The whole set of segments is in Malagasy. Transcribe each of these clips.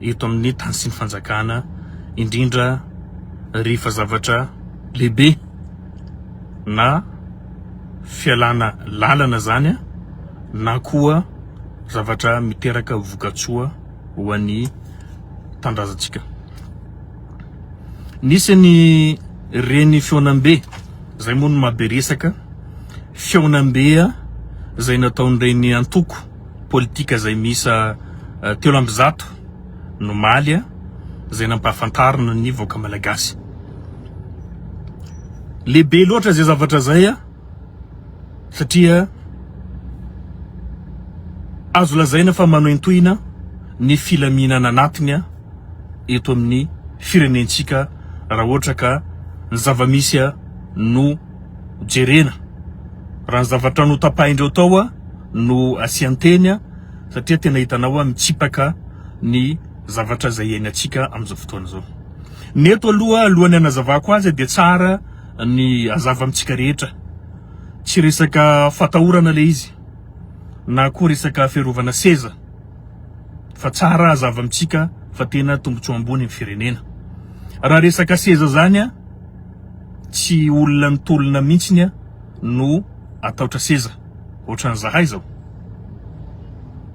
eto amin'ny tany sy ny fanjakana indrindra rehefa zavatra lehibe na fialana lalana zany na koa zavatra miteraka vokatsoa ho an'ny tanindrazantsika. Nisy ny reny fihaonambe zay moa no mahabe resaka, fihaonambe zay nataon'ireny antoko politika izay miisa telo amby zato nomaly izay nampahafantarina ny vahoaka malagasy. Lehibe loatra izay zavatra izay satria azo lazaina fa manohintohina ny filaminana anatiny eto amin'ny firenentsika raha ohatra ka ny zava-misy no jerena raha ny zavatra notapahin-dreo tao a no asian-teny a satria tena hitanao a mitsipaka ny zavatra izay iainantsika amin'izao fotoana izao. Ny eto aloha alohan'ny anazavako azy dia tsara ny azava amintsika rehetra. Tsy resaka fatahorana le izy na koa resaka fiarovana seza fa tsara azava amintsika fa tena tombotsoa ambony ny firenena. Raha resaka seza zany a Tsy olona nitolona mihitsiny a no ataotra seza ohatran'ny zahay zao.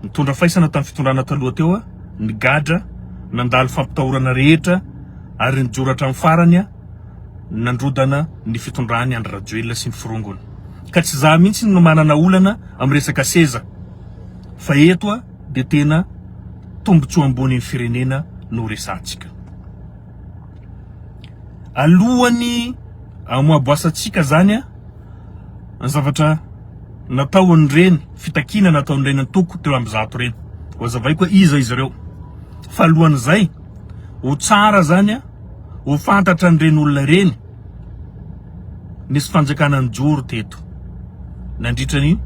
Nitondra faisana tamin'ny fitondrana taloha teo a, nigadra, nandalo fampitahorana rehetra ary nijoro hatramin'ny farany a nandrodana ny fitondran'i Andry Rajoelina sy ny forongony. Ka tsy za mihitsiny no manana olana amin'ny resaka seza fa eto a dia tena tombotsoa ambony ny firenena no resahantsika. Alohan'ny hamoaboasantsika izany an, ny zavatra nataon'ireny, fitakiana nataon'ireny antoko teo amin'ny zato ireny, hozavaiko hoe iza izy ireo. Fa alohan'izay, ho tsara izany an, ho fantatran'ireny olona ireny, nisy fanjakana nijoro teto nandritra ny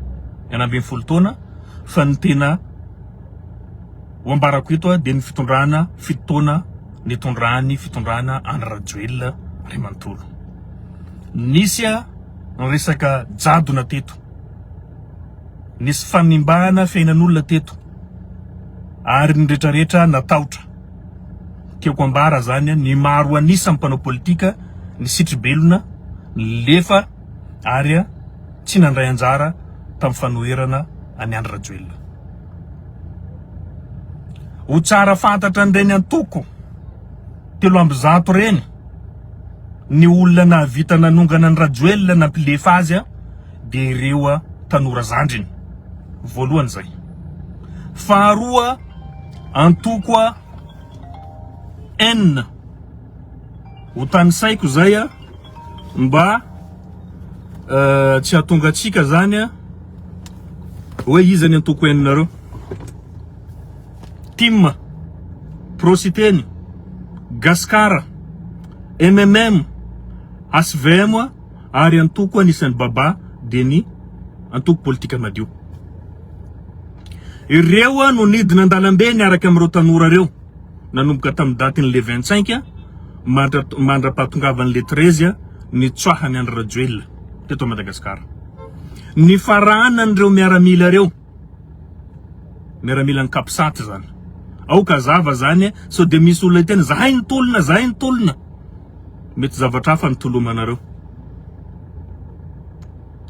enina ambin'ny folo taona fa ny tena. Ho ambarako eto dia ny fitondrana fito taona nitondran'ny fitondrana Andry Rajoelina ray manontolo. Nisy ny resaka jadona teto, nisy fanimbana fiainan'olona teto ary ny retraretra natahotra. Tiako ambara zany ny maro anisa mpanao politika ny sitribelona nilefa ary tsy nandray anjara tamin'ny fanoherana an'i Andry Rajoelina. Ho tsara fantatra an'ireny antoko telo amby zato ireny ny olona nahavita nanongana an'i Rajoelina nampilefa azy dia ireo tanora zandriny. Voalohany izay. Faharoa, antoko N. Hotanisaiko izay a, mba tsy hahatongatsika zany a hoe iza ny antoko eninareo. Tim, Pro Siteny, Gascar, MMM, HVM a, ary antoko anisan'ny Baba dia ny antoko politika Madio. Ireo a no nidina an-dalambe niaraka amin'ireo tanora ireo. nanomboka tamin'ny datin'ny le vingt cinq mandra mandra-pahatongavan'ny le treize nitsoahany Andry Rajoelina teto Madagasikara. Nifaranan'ireo miaramila ireo, miaramilan'ny Capsat izany, aoka hazava izany sao dia misy olona hiteny zahay no tolona, zahay no tolona, mety zavatra hafa no tolomanareo.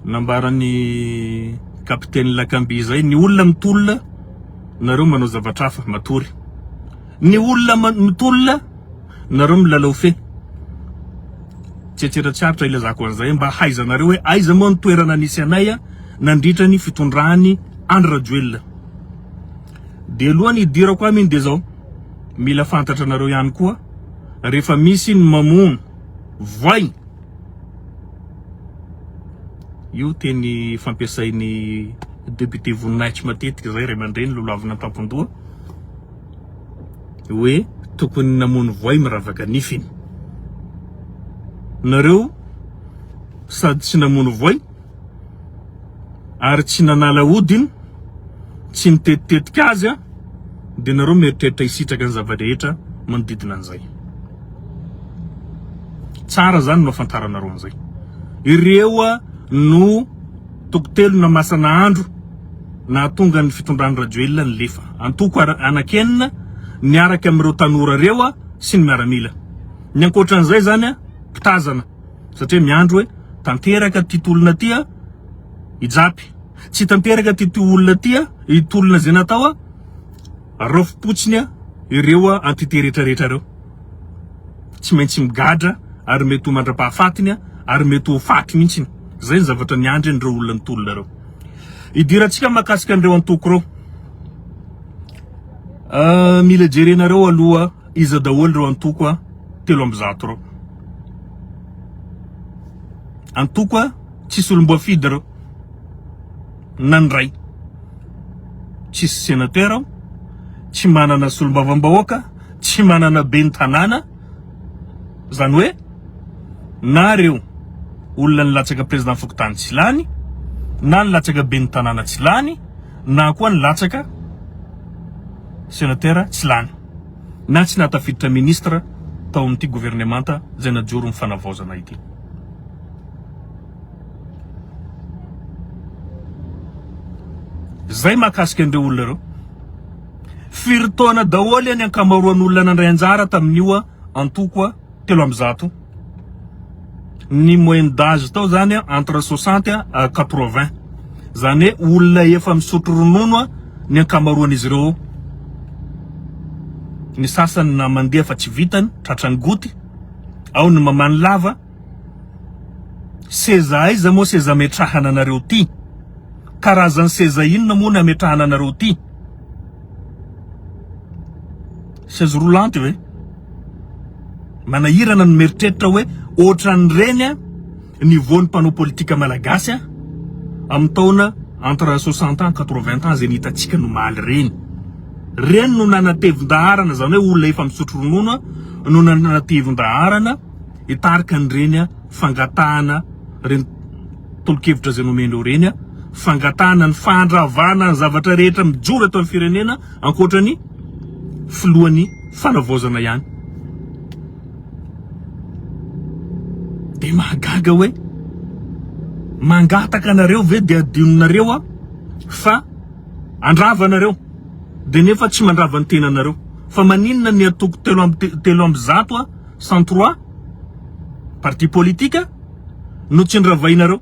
Nambaran'ny kapiteny Lakamby izay, ny olona mitolona, nareo manao zavatra hafa, matory. Ny olona mitolona, nareo milalao fe. Tsetseratra tsy aritra ilazako an'izay mba hahaizanareo hoe aiza moa ny toerana nisy anay nandritra ny fitondran'i Andry Rajoelina. Dia aloha ny hidirako aminy dia izao, mila fantatranareo ihany koa rehefa misy ny mamono voay, Io teny fampiasain'ny député Voninahitry matetika izay ray aman-dreny lolohavina an-tampon-doha hoe tokony namono voay miravaka nifiny. Nareo sady tsy namono voay ary tsy nanala hodiny, tsy nitetitetika azy aho, dia nareo mieritreritra hisitraka ny zava-drehetra manodidina an'izay. Tsara zany no afantaranareo an'izay. Ireo no tokotelo masana andro nahatonga ny fitondran'i Rajoelina nilefa. Antoko anakenina niaraka amin'ireo tanora ireo sy ny miaramila. Ny ankoatran'izay zany mpitazana. Satria miandry hoe tanteraka ity tolona ity a i Japy. Tsy tanteraka ity tolona ity a i tolona izay natao a raofim-potsiny a ireo a entité rehetrarehetra ireo. Tsy maintsy migadra ary mety ho mandra-pahafatiny a ary mety ho faty mihitsy. Izay ny zavatra niandry an'ireo olona ny tolona ireo. Idirantsika makasika an'ireo antoko ireo. Ah, mila jerenareo aloha Iza daholo ireo antoko a telo amby zato ireo? Antoko a tsisy olomboafidy ireo na ny iray. Tsisy senateur ao, tsy manana solombavambahoaka, tsy manana ben'ny tanàna, izany hoe na ireo olona nilatsaka président fokontany tsy lany, na nilatsaka ben'ny tanàna tsy lany, na koa nilatsaka. Senatera tsy lany na tsy nahatafiditra ministra tao amin'ity governemanta izay najoro ny fanavaozana ity. Izay mahakasika an'ireo olona ireo. Firy taona daholo ny ankamaroan'olona nandray anjara tamin'io antoko telo amby zato. ny moyenne d'âge tao zany a entre soixante à quatre vingt zany hoe olona efa misotro ronono a ny ankamaroan'izy ireo ao, ny sasany na mandeha fa tsy vitany tratran'ny goty, ao ny mamany lava, seza aiza moa seza ametrahana anareo ty? Karazan'ny seza inona moa no ametrahana anareo ty? Chaise roulante ve? Manahirana ny mieritreritra hoe ohatran'ireny niveau-n'ny mpanao politika malagasy amin'ny taona entre soixante ans, quatre vingt ans izay ny hitantsika nomaly ireny. Ireny no nanatevin-daharana izany hoe olona efa misotro ronono no nanatevin-daharana hitarika an'ireny fangatahana ireny tolo-kevitra izay nomen'ireo ireny fangatahana ny fandravana ny zavatra rehetra mijoro eto amin'ny firenena ankoatra ny filohan'ny fanavaozana ihany. Dia mahagaga hoe mangataka anareo ve dia adinonareo aho fa andrava anareo dia nefa tsy mandrava ny tenanareo fa maninona ny atoko telo amby telo amby zato a cent trois parti politique no tsy ndravainareo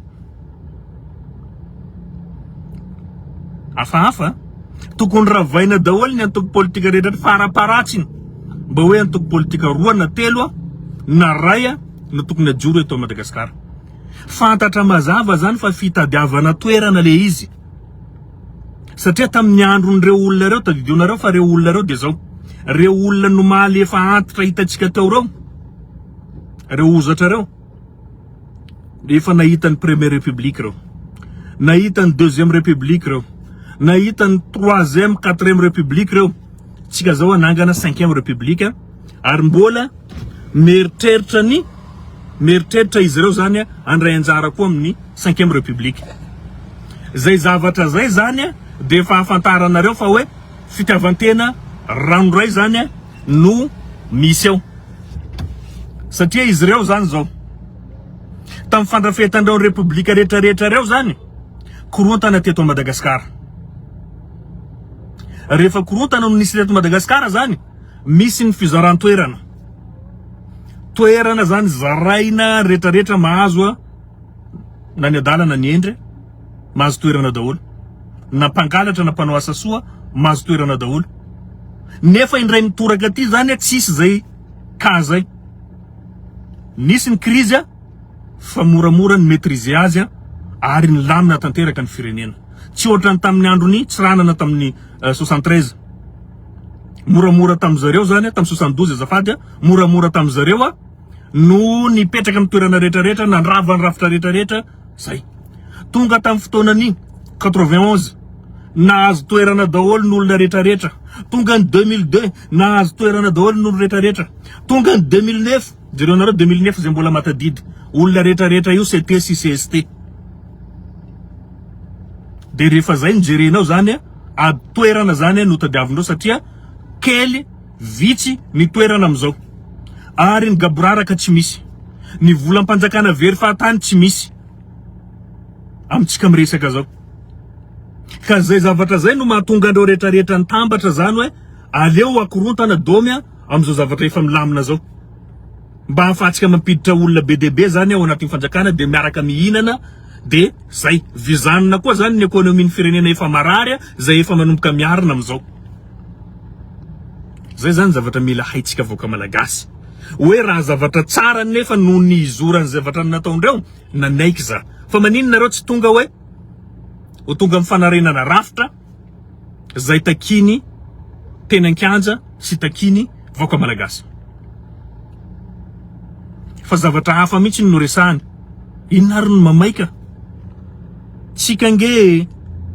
Hafahafa a! Tokony ravaina daholo ny antoko politika rehetra eto faraparatsiny mba hoe antoko politika roa na telo a na ray a no tokony hajoro eto Madagasikara. Fantatra mazava zany fa fitadiavana toerana le izy satria tamin'ny andron'ireo olona ireo, tadidio nareo fa ireo olona ireo de zao, ireo olona nomaly efa antitra hitantsika teo ireo, ireo hozatra ireo. Efa nahita ny première république reo. Nahita ny deuxième république reo. Nahita ny troisième, quatrième république reo. Tsika zao anangana cinquième république ary mbola meritreritra ny meritreritra izy reo zany andray anjara koa amin'ny cinquième république. Zay zavatra zay zany dia fahafantaranareo fa hoe fitiavantena ranoray zany no misy eo satria izy ireo zany zao tamin'ny fandrafetan'ireo repoblika rehetrarehetra ireo zany korontana teto Madagasikara. Rehefa korontana no nisy teto Madagasikara zany, misy ny fizaran-toerana. Toerana zany zaraina rehetrarehetra mahazo na ny adalana ny endre. mahazo toerana daholo, na mpangalatra na mpanao asa soa mahazo toerana daholo, nefa indray mitoraka aty zany tsisy zay cas zay, nisy ny krizy fa moramora ny maitriser azy ary nilamina tanteraka ny firenena, tsy ohatran'ny tamin'ny andron'i Tsiranana tamin'ny soixante treize, moramora tamin'ny zareo zany tamin'ny soixante douze azafady a, moramora tamin'ny zareo no nipetraka amin'ny toerana retraretra, nandrava ny rafitra retraretra. Zay. Tonga tamin'ny fotoanan'iny, quatre-vingt onze, nahazo toerana daholo ny olona rehetra rehetra. Tonga ny deux mille deux, nahazo toerana daholo ny olona rehetra rehetra. Tonga ny deux mille neuf, jereo nareo deux mille neuf zay mbola matadidy, olona rehetra rehetra io CT sy CST. De rehefa zay no jerenao zany a, ady toerana zany no tadiavinao satria kely. Vitsy ny toerana amin'izao. Ary ny gaboraraka tsy misy. Ny volam-panjakana very fahatany tsy misy. Amintsika miresaka izao. Ka izay zavatra izay no mahatonga an'ireo rehetrarehetra nitambatra izany hoe aleo hakorontana domy amin'izao zavatra efa milamina izao. Mba ahafahantsika mampiditra olona be dia be izany ao anatin'ny fanjakana dia miaraka mihinana dia izay. Vizanina koa izany ny ekonomin'ny firenena efa marary izay efa manomboka miharina amin'izao. Zay zany zavatra mila haintsika vahoaka malagasy hoe raha zavatra tsara nefa noho ny hizoran'ny zavatra nataondreo nanaiky za fa maninona nareo tsy tonga hoe ho tonga amin'ny fanarenana rafitra zay takiny teny an-kianja sy takiny vahoaka malagasy. Fa zavatra hafa mihitsy no resahany. Inona ary no mamaika? Tsika nge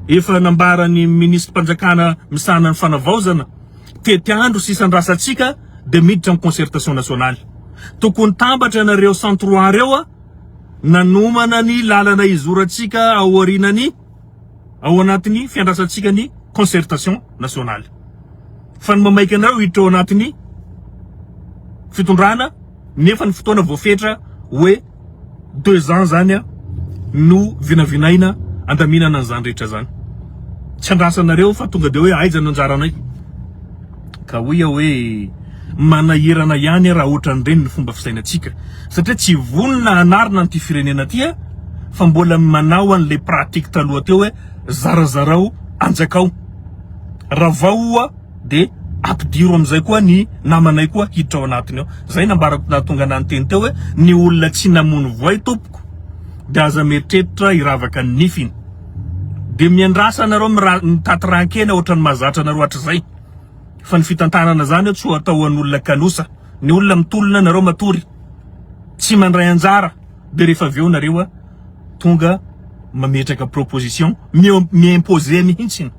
efa nambaran'ny minisitrim-panjakana misahana ny fanavaozana, tety andro sy isan-drasantsika dia miditra ny concertation nationale. Tokony tambatra ianareo centroa reo nanomana ny lalana hizorantsika ao aorianan'ny. ao anatin'ny fiandrasantsika ny concertation nationale fa ny mamaika anareo hiditra ao anatin'ny fitondrana nefa ny fotoana voafetra hoe deux ans zany a no vinavinaina andaminana an'izany rehetra zany tsy andrasanareo fa tonga de hoe aiza no anjaranay Ka hoy aho hoe, manahirana ihany raha ohatran'ireny ny fomba fisainantsika, satria tsy vonona hanarina an'ity firenena ity fa mbola manao an'ilay pratique taloha teo hoe, zarazarao anjakao, ravao ho'a dia ampidiro amin'izay koa ny namanay koa hiditra ao anatiny ao. Izay nambarako nahatonga anah niteny teo hoe, ny olona tsy namono voay tompoko dia aza mieritreritra hiravaka ny nifiny. Dia miandrasa anareo mitaty rankena ohatran'ny mahazatra anareo hatrizay fa ny fitantanana zany tsy ho atao an'olona kanosa, ny olona mitolona nareo matory tsy mandray anjara dia rehefa avy eo nareo tonga mametraka proposition mi imposer mihitsy,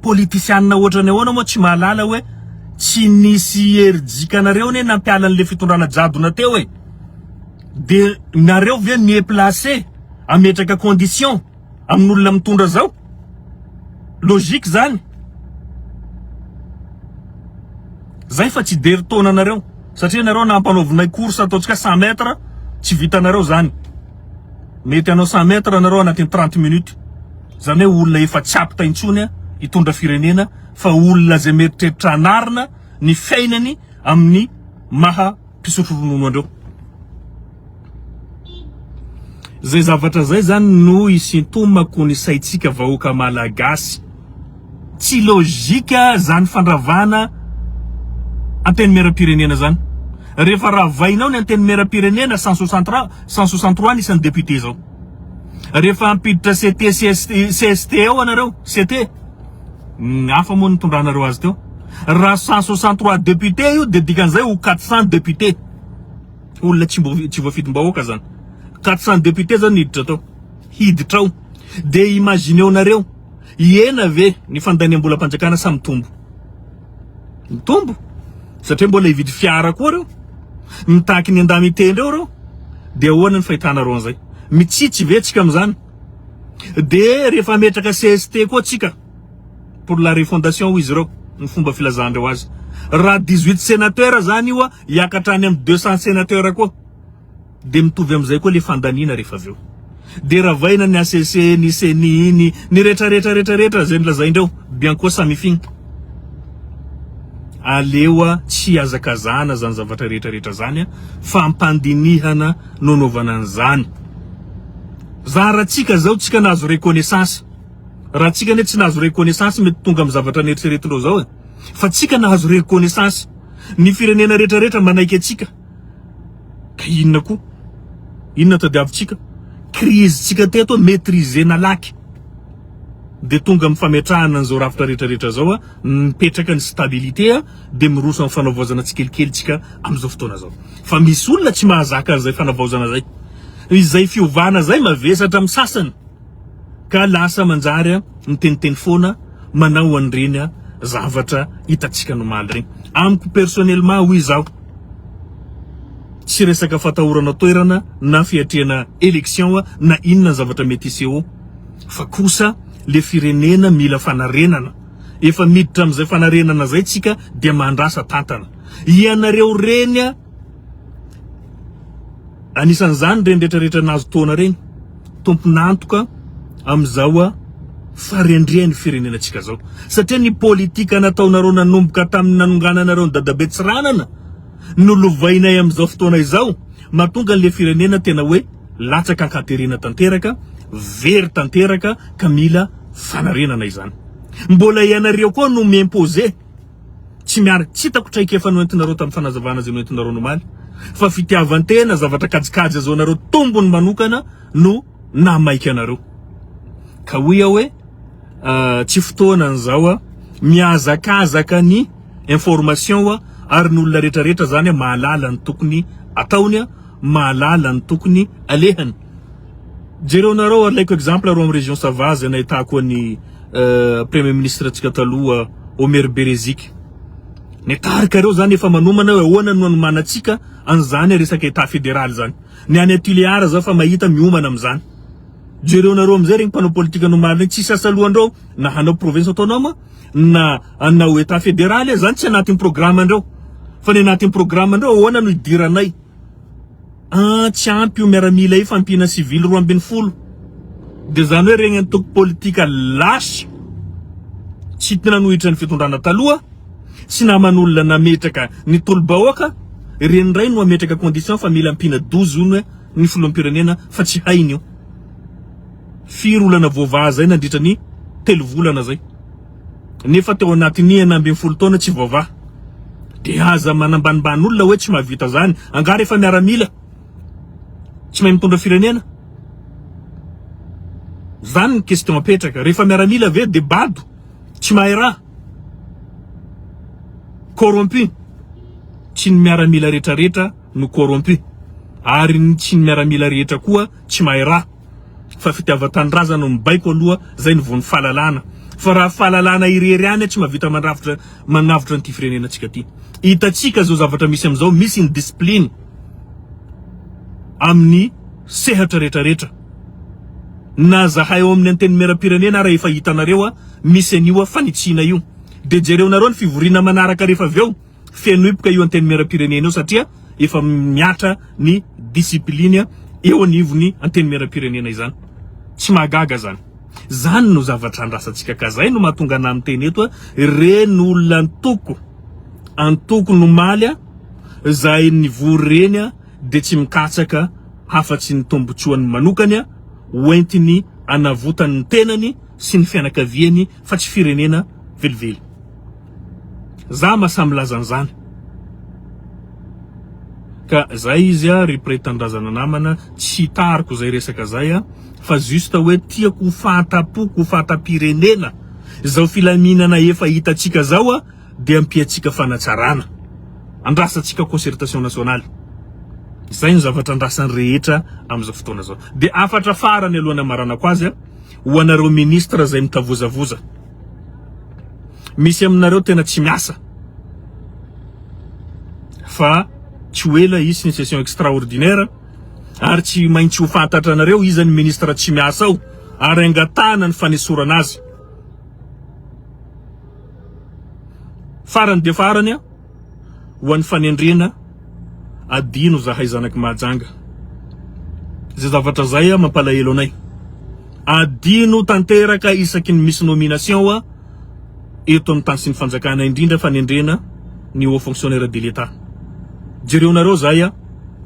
politisianina ohatran'ny ahoana moa tsy mahalala hoe tsy nisy herijika anareo anie nampiala an'ilay fitondrana jadona teo e! De nareo ve mi placer ametraka condition amin'olona mitondra zao? Logique zany? Zay fa tsy dery taona anareo satria nareo nampanaovinay course ataontsika cent mètre tsy vitanareo zany mety anao cent mètre nareo anatin'ny trente minutes zany hoe olona efa tsy apte intsony hitondra firenena fa olona zay mieritreritra hanarina ny fiainany amin'ny maha mpisotro ronono andreo. Zay zavatra zay zany no hisintomako ny saintsika vahoaka malagasy. Tsy logique zany fandravana antenimieram-pirenena zany. Rehefa ravainao ny antenimieram-pirenena cent soixante trois cent soixante trois ny isan'ny député zao. Rehefa hampiditra CT CST eo anareo, CT. Ny hafa moa nitondranareo azy teo. Raha cent soixante trois députés io de dikan'izay ho quatre cents députés. Olona tsy mbo tsy voafidim-bahoaka zany. Quatre cents députés zao no hiditra tao. Hiditra ao. De imagineo-nareo, hihena ve ny fandaniam-bolam-panjakana sa mitombo? Mitombo. Satria mbola hividy fiara koa reo. Mitaky ny an-dahy mitendry eo reo. De ahoana ny fahitanareo an'izay? Mitsitsy ve tsika amin'izany? De rehefa hametraka cst koa tsika pour la refondation hoy izy ireo ny fomba filazandreo azy raha dix huit senateur zany io hiakatra any am deux cent senateur koa de mitovy amzay koa le fandaniana rehefa avy eo de ravaina ny acc ny ceni ny ny rehetra rehetra rehetra rehetra zay nolazaindreo bianco samifin aleoa tsy hiazakazahana zany zavatra rehetra rehetra zany a fampandinihana no anaovana anzany Za ra tsika zao tsika nahazo reconnaissance ra tsika anie tsy nahazo reconnaissance mety tonga am zavatra neritreretinreo zao e fa tsika nahazo reconnaissance ny firenena rehetra rehetra manaiky atsika ka inona ko inona tadiavitsika crise tsika teto maitriser nalaky de tonga am fametrahana anzao rafitra rehetra rehetra zao a mipetraka ny stabilité a de miroso am fanavaozana tsikelikely tsika amzao fotoana zao fa misy olona tsy mahazaka anzay fanavaozana zay. Izay fiovana izay mavesatra amin'ny sasany ka lasa manjary miteniteny foana manao an'ireny zavatra hitantsika nomaly ireny. Amiko personnellement hoy izaho, tsy resaka fatahorana toerana na fiatrehana election na inona ny zavatra mety hiseho fa kosa le firenena mila fanarenana. Efa miditra amin'izay fanarenana izay tsika dia mandrasa tantana. Ianareo reny Anisan'izany ireny retraretra nahazo taona ireny, tompon'antoka amin'izao fahendren'ny firenenantsika izao. Satria ny politika nataonareo nanomboka tamin'ny nanongananareo an'i Dadabe Tsiranana no lovainay amin'izao fotoana izao, mahatonga an'ilay firenena tena hoe latsaka an-katerena tanteraka, very tanteraka ka mila fanarenana izany. Mbola ianareo koa no mi-imposer. tsy miary tsy hitako traikefa noentinareo tamin'ny fanazavana izay noentinareo nomaly fa fitiavan-tena zavatra kajikajy azaonareo tombony manokana no namaika anareo ka hoy aho hoe ah, tsy fotoana an'izao a mihazakazaka ny information a ary ny olona rehetrarehetra zany mahalala ny tokony ataony a mahalala ny tokony alehany Jereo nareo alaiko exemple arô am région sava zay nahitako an'i premier ministre antsika taloha Omer Bereziky Ny tarika reo zany efa manomana hoe ahoana no anomanantsika an'izany resaka état fédéral zany. Ny any Tuléar zao efa mahita miomana amin'izany. Jereo nareo amin'izay regny mpanao politika nomaly regny tsisy asa lohandrao na hanao province autonome na hanao état fédéral zany tsy anatin'ny programme andreo. Fa ny anatin'ny programme andreo ahoana no hidiranay. An tsy ampy io miaramila io fa ampiana sivily roa ambin'ny folo de zany hoe regny antoko politika lasa tsy te nanohitra ny fitondrana taloha sy naman'olona nametraka ny tolobahoaka reny ndray no ametraka condition fa mila ampiana dozy one ny filoham-pirenena fa tsy hainy io firy olana voavaha zay nandritra ny telo volana zay. Nefa teo anatin'ny enina ambin'ny folo taona tsy voavaha. De aza manambanimbany olona hoe tsy mahavita zany. Angaha rehefa miaramila tsy mahay mitondra firenena? Zany ny question apetraka. Rehefa miaramila ve de bado? Tsy mahay raha? Corrompu? Tsy ny miaramila retraretra no corrompu. Ary ny tsy ny miaramila rehetra koa tsy mahay raha. fa fitiavan-tanindrazana no mibaiko aloha zay no voan'ny fahalalana fa raha fahalalana irery ihany tsy mahavita mandrafitra magnavotra an'ity firenenantsika ty hitantsika zao zavatra misy amin'izao misy ny discipline amin'ny sehatra retraretra na zahay ao amin'ny antenimieram-pirenena ara efa hitanareo a misy an'io a fanitsiana io de jereonareo ny fivoriana manaraka rehefa avy eo Feno hipoka io Antenimierampirenena io satria efa mihatra ny discipline eo anivon'ny Antenimierampirenena izany. Tsy mahagaga izany. Izany no zavatra andrasantsika ka izay no mahatonga anah miteny eto hoe reny olona antoko, antoko nomaly izay nivory ireny dia tsy mikatsaka afa tsy ny tombotsoany manokany hoentiny anavotany ny tenany sy ny fianakaviany fa tsy firenena velively. Za ma sa milaza an'izany? Ka zay izy a ry Pré Tanindrazana namana, tsy tariko izay resaka zay a, fa juste hoe tiako ho fahatapoko ho fahatam-pirenena izao filaminana efa hitantsika izao a, dia ampiantsika fanatsarana, andrasantsika concertation nationale, izay no zavatra andrasan'ny rehetra amin'izao fotoana izao. Dia hafatra farany alohan'ny hamaranako azy a, ho anareo ministre izay mitavozavoza. Misy aminareo tena tsy miasa fa tsy ho ela hisy ny session extraordinaire ary tsy maintsy ho fantatranareo iza ny ministre tsy miasa ao ary angatahana ny fanesorana azy. Farany dia farany an! Ho an'ny fanendrena, adino zahay zanaky Mahajanga. Zay zavatra zay mampalahelo anay. Adino tanteraka isaky ny misy nomination eto amin'ny tany sy ny fanjakana, indrindra fanendrena ny haut fonctionnaire de l'Etat. Jereonareo zay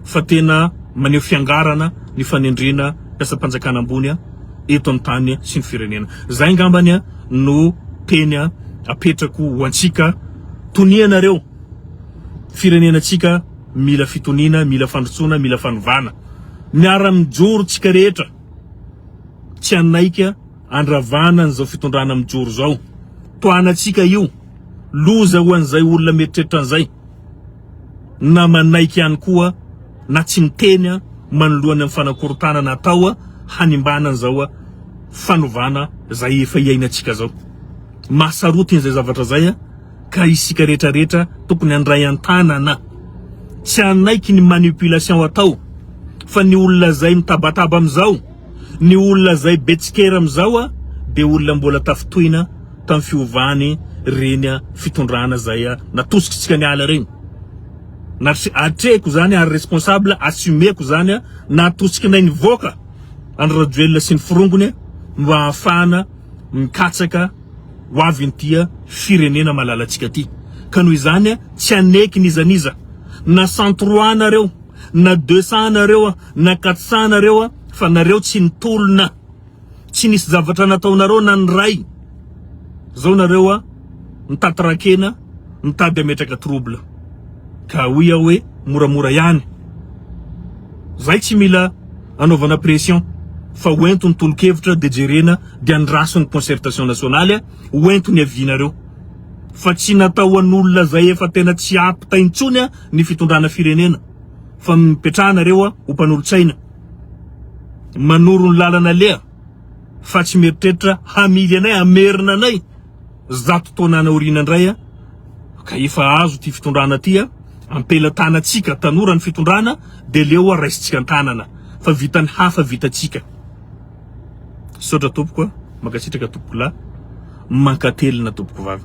fa tena maneho fiangarana ny fanendrena mpiasam-panjakana ambony eto amin'ny tany sy ny firenena. Zay ngambany no teny apetrako ho antsika. tonianareo firenena tsika mila fitoniana mila fandrotsona mila fanovana miara mijoro tsika rehetra tsy anaika andravana an'izao fitondrana mijoro zao toanatsika io loza ho an'izay olona mieritreritra an'izay na manaiky ihany koa na tsy miteny manoloana ny fanakorontanana atao hanimbana an'izao fanovana zay efa iainatsika zao mahasarotiny izay zavatra izay ka isika rehetra rehetra tokony handray an-tanana. Tsy hanaiky ny manipulation atao fa ny olona izay mitabataba amin'izao, ny olona izay be tsikera amin'izao dia olona mbola tafintohina tamin'ny fiovany reny fitondrana izay natosikintsika niala reny. Natri atrehiko izany ary responsable assumeko izany natosikinay nivoaka an'i Rajoelina sy ny forongony mba hahafahana mikatsaka ho avy inty firenena malalantsika ty ka noho izany tsy haneky n'iza n'iza na centrois nareo na deux cent nareo na quatre cent nareo fa nareo tsy nitolona tsy nisy zavatra nataonareo na ny ray zao nareo mitaty rakena mitady ametraka trouble ka hoy aho hoe moramora ihany zay tsy mila Anaovana pression fa ho ento ny tolokevitra de jerena de andraso ny concertation nationaly a, ho ento ny avis nareo fa tsy natao ho an'olona zay efa tena tsy apte intsony a ny fitondrana firenena fa mipetraha nareo a ho mpanolotsaina manoro ny lalana aleha fa tsy mieritreritra hamily anay hamerina anay Zato taonany aoriana indray a, ka efa azo ity fitondrana ty a, ampelatanantsika tanora ny fitondrana de leo a raisintsika antanana fa vitan'ny hafa vitantsika. Misaotra tompoko a, mankasitraka tompoko lahy, mankatelina tompoko vavy.